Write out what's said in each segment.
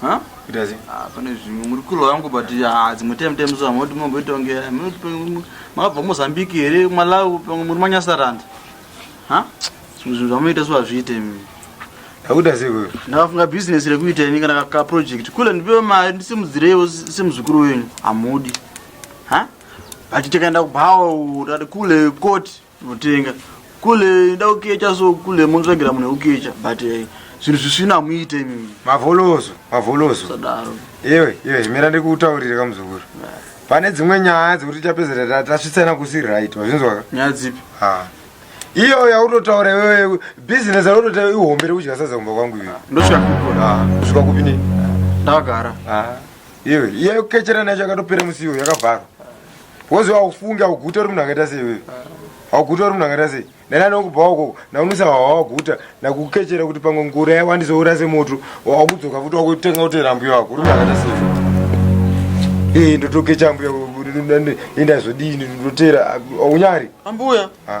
Huh? Itazi. Ah, pane zvimwe muri kulo yangu but ah, dzimwe time time so amoti momboita kunge makabva Mozambique here Malawi pamwe muri manyasarand. Ha? Zvimwe zvinhu zvamunoita so hazviite imi. Akuda sei wewe? Ndakafunga business rekuita ini kana ka project. Kule ndipewe mari ndisimudzireiwo semuzukuru wenyu. Amudi. Ha? Achitikaenda kubhawa utate kule koti. Mutenga kule ida kukecha so kule munotsvagira munhu wekukecha but eh, zvinhu zvisvina hamuite imimi mavolozo mavolozo sadaro iwe iwe mira ndikutaurire kamuzukuru pane dzimwe nyaya dzekuti tapedzera ta- tasvitsana kusi right wazvinzwaka nyaya dzipi Ha. iyo yautotaura iwewe business yautotaura ihombe rekudya sadza kumba kwangu iwe ndosvika kukona Ha, kusvika kupi ne ndakagara Ha. iwe iye kukecherana yacho yakatopera musiwo yakavharwa Wozi waufunge auguta uri munhu akaita sei wewe? Auguta uri munhu akaita sei? Ndani anokubva wako naunosa wawaguta nakukechera kuti pamwe ngura yako andizoura semoto wakudzoka futi wakutenga utera mbuya wako uri munhu akaita sei? Eh ndotokecha mbuya inda zvodini ndotera aunyari? Ambuya. Ah.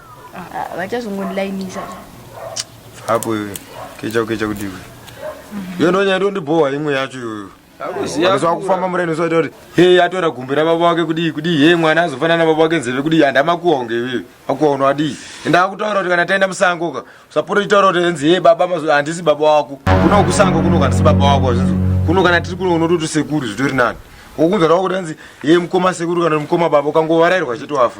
vachazongondilainisa hapo iwe kecha ukecha kuti iwe iyo ndo nyaya ndondibhowa imwe yacho iyoyo aizwa kufamba mureno soita kuti he atora gumbi rababa wake kudii kudii he mwana azofanana nababa wake nzeve kudii handi amakuwa kunge iwewe akuwa uno adii ende akutaura kuti kana taenda musango ka usapota uchitaura kuti enzi he baba mazuva handisi baba wako kuno kusango kuno kandisi baba wako azvinzwa kuno kana tiri kuno unototi sekuru zvitori nani wokunzwa ravo kuti anzi ye mukoma sekuru kana mukoma baba ukangovarairwa chete wafa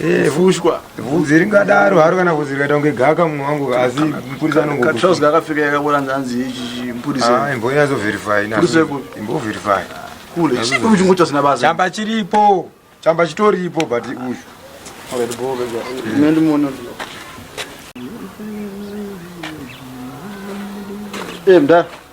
Eh, fushwa vhudzi ringadaro haro kana vhudzi rikaita kunge gaka munhu wangu asi mupurisa anongokatrous kakapfeka yakabona nzanzi ichi mupurisa ah, imbonyazoverify imboverify kule chiko muchingo chasina basa chamba chiripo chamba chitoripo but uyu already bobe ine ndimono eh mda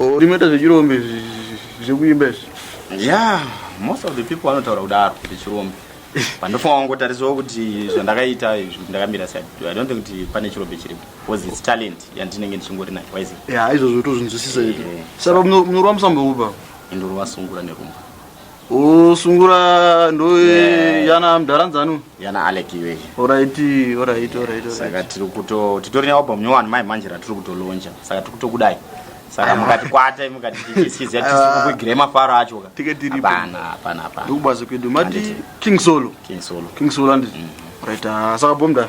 Oh, rinoita zvechirombe zvekuimba izvi. Yeah, most of the people vanotaura kudaro zvechirombe. Pandofunga wangotarisawo kuti zvandakaita izvi ndakamira sei. I don't think kuti pane chirombe chiripo. Because it's talent yandinenge ndichingori nayo. Why is it? Yeah, izvozvo tozvinzwisisa izvi. Saka munorwa musambo uba. Indorwa sungura nerumba. usungura ndo yana mdaranzanu yana alec iwe orit orit orit saka tiri kuto titori nealbum nyowani mai manje ratiri kutolonja saka tiri kutokudai saka mukati kwata mukati tichiskiza tisikukuigire mafaro acho ka tike tiri hapana hapana hapana ndikubazo kwedu mati king solo king solo king solo andi mm. right ah, saka bomda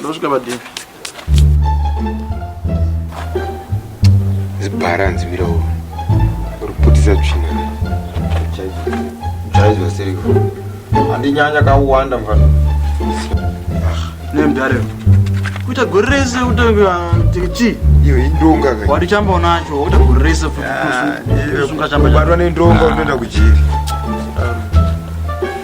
ndosvika padivi zibhara hanzi mira uo uri kuputisa tsvina chaizo siriko handinyanya kauwanda mfana nemdare kuita gore rese utechii iyo indonga wati chamba unacho uta gore rese futi ah, kusunga chamba unoenda kujiri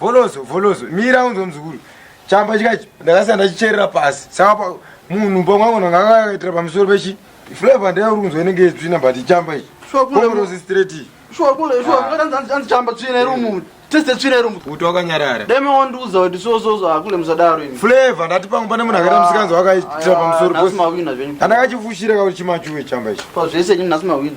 volozo volozo mira unzwa muzukuru chamba chikachi ndakasiya ndachicherera pasi saka munhu pamwe angu ndanga akaitira pamusoro pechi flavor ndeye uri kunzwa inenge yetsvina but chamba ichi volozo straight iyi anzichamba tsvina iri umu tese tsvina iri umu kuti wakanyarara dai mawandiudza kuti sososo hakule musadaro ini flavor ndati pangu pane munhu akaita ah, musikanzi wakaitira pamusoro pasi andakachifushira kakuti chimachuwe chamba ichi pazvese nyini nhasi mawina